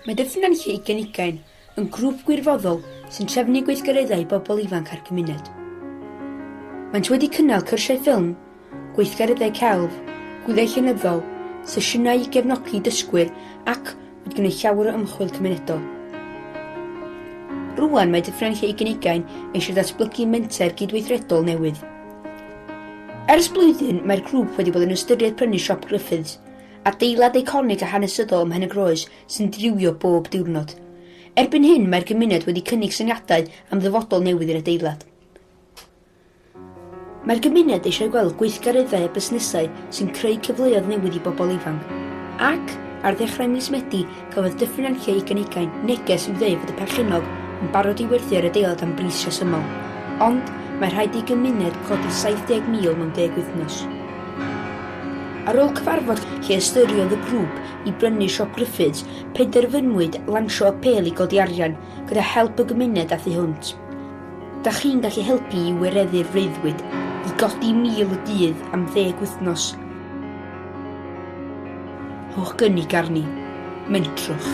Mae dipyn yn lle i gynigain, yn grŵp gwirfoddol sy'n trefnu gweithgareddau i bobl ifanc a'r cymuned. Maent wedi cynnal cyrsiau ffilm, gweithgareddau celf, gwyliau llenyddol, sesiynau i gefnogi dysgwyr ac wedi gwneud llawer o ymchwil cymunedol. Rŵan mae Dyffryn Lle Ugain eisiau datblygu menter gydweithredol newydd. Ers blwyddyn mae'r grŵp wedi bod yn ystyried prynu siop Griffiths, adeilad eiconig a hanesyddol ym Mhenygroes sy'n driwio bob diwrnod. Erbyn hyn mae'r gymuned wedi cynnig syniadau am ddyfodol newydd i'r adeilad. Mae'r gymuned eisiau gweld gweithgareddau a busnesau sy'n creu cyfleoedd newydd i bobl ifanc. Ac, ar ddechrau mis Medi, cafodd Dyffryn Anclio Ugain Ugain neges i'w ddweud fod y perchennog yn barod i werthu ar adeilad am bris rhesymol. Ond, mae rhaid i gymuned codi 70,000 mewn deg wythnos. Ar ôl cyfarfod lle ystyriodd y grŵp i brynu Siop Griffiths, penderfynwyd lansio apêl i godi arian gyda help y gymuned a thu hwnt. Da chi'n gallu helpu i wireddu'r freuddwyd i godi 1,000 y dydd am ddeg wythnos. Rhowch gynnig arni. Mentrwch.